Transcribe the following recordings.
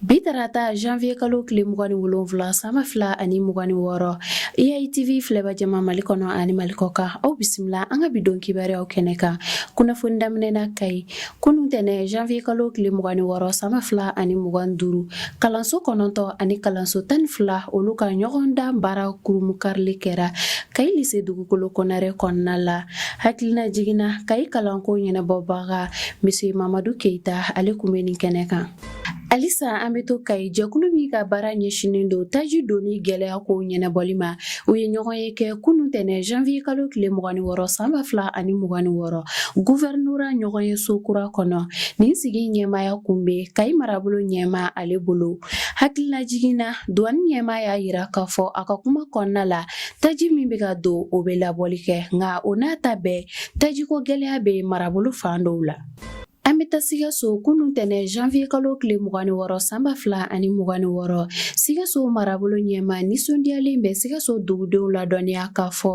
Bi tarata janvier kalo tile mugan ni wolonfila san ba fila ani mugan ni wɔɔrɔ EITV filɛbaa jama Mali kɔnɔ ani Mali kɔkan aw bisimila an ka bi don kibaruyaw kɛnɛ kan kunnafoni daminɛ na Kayi kunun tɛnɛ janvier kalo tile mugan ni wɔɔrɔ san ba fila ani mugan ni duuru kalanso kɔnɔntɔ ani kalanso tan ni fila olu ka ɲɔgɔndan baara kurunbonkarili kɛra Kayi lise Dugukolo Konare kɔnɔna la hakililajigin na Kayi kalanko ɲɛnabɔbaga Monsieur Mamadu Keyita ale kun bɛ nin kɛnɛ kan Halisa an bɛ to kayi jɛkulu min ka baara ɲɛsinnen don taji donni gɛlɛya ko ɲɛnabɔli ma u ye ɲɔgɔnye kɛ kunun tɛnɛ janvier kalo tile mugan ni wɔɔrɔ san ba fila ani mugan ni wɔɔrɔ guvɛrinora ɲɔgɔnyeso kura kɔnɔ nin sigi ɲɛmaaya kun bɛ kayi marabolo ɲɛmaa ale bolo hakililajigin na duwani ɲɛmaa y'a yira k'a fɔ a ka kuma kɔnɔna la taji min bɛ ka don o bɛ labɔli kɛ nka o n'a ta bɛɛ tajiko gɛlɛya bɛ marabolo fan dɔw la An bɛ taa sikaso kunun tɛnɛ janvier kalo tile mugan ni wɔɔrɔ sanba fila ani mugan ni wɔɔrɔ sikaso marabolo ɲɛmaa nisɔndiyalen bɛ sikaso dugudenw ladɔnniya k'a fɔ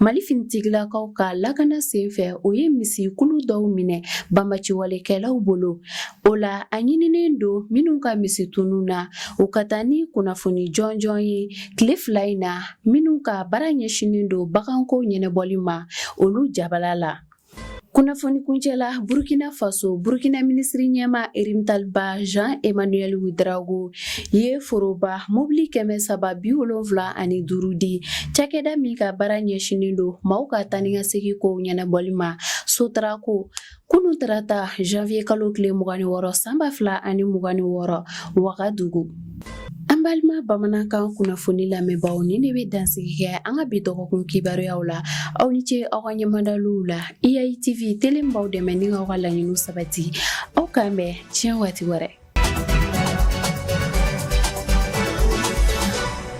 mali finitigilakaw ka lakana senfɛ u ye misikulu dɔw minɛ banbaciwalekɛlaw bolo o la a ɲininen don minnu ka misi tununna u ka taa ni kunnafoni jɔnjɔn ye tile fila in na minnu ka baara ɲɛsinnen don baganko ɲɛnabɔli ma olu jabala la kunnafoni kuncɛ la burkina faso burkina minisiri ɲɛmaa rimtalba jean emmanuel ouedraogo ye foroba mobili kɛmɛ saba bi wolonfila ani duru di cakɛda min ka baara ɲɛsinin don maaw ka taa ni ka segin kow ɲɛnabɔli ma sotrako kunu tarata janvier kalo tile mugan ni wɔɔrɔ sanba fila ani mugan ni wɔɔrɔ wagadugu An balima bamanankan kunnafoni lamɛnbaaw nin de bɛ dansigi kɛ an ka bi dɔgɔkun kibaruyaw la aw ni ce aw ka ɲɛmadaliw la EITV tele b'aw dɛmɛ ni aw ka laɲiniw sabati aw k'an bɛn tiɲɛ waati wɛrɛ